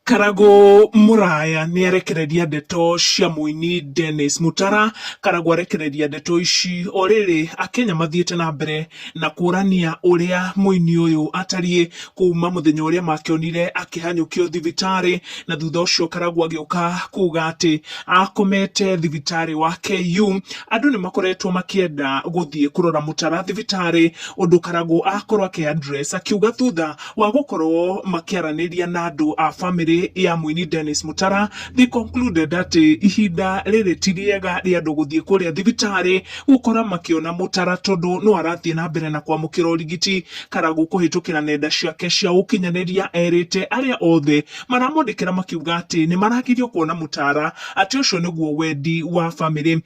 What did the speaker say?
Karagũ Mũraya nĩarekereria ndeto cia mũini Dennis Mutara. Karagũ arekereria ndeto ici o rĩrĩ Akenya mathiĩte na mbere na kũrania ũrĩa mũini ũyũ atariĩ kuma mũthenya ũrĩa makĩonire akĩhanyũkio thibitarĩ na thutha ũcio Karagũ agĩũka kuga atĩ akomete thibitarĩ wa KU. Andũ nĩmakoretwo makĩenda gũthiĩ kũrora Mutara thibitarĩ ũndũ Karagũ akorwo akĩ address akiuga thutha wa gũkorwo makĩaranĩria na andũ a bamĩrĩ ya mũini Dennis Mutara they concluded atĩ ihinda rĩrĩ ti rĩega rĩa andũ gũthiĩ kũrĩa thibitarĩ gũkora makĩona Mutara tondũ no arathiĩ na mbere na kwamũkĩra ũrigiti. Karagũ kũhĩtũkĩra nenda ciake cia ũkinyanĩria erĩte arĩa othe maramwandĩkĩra makiuga atĩ nĩmaragirio kuona Mutara atĩ ũcio nĩguo wendi wa bamĩrĩ.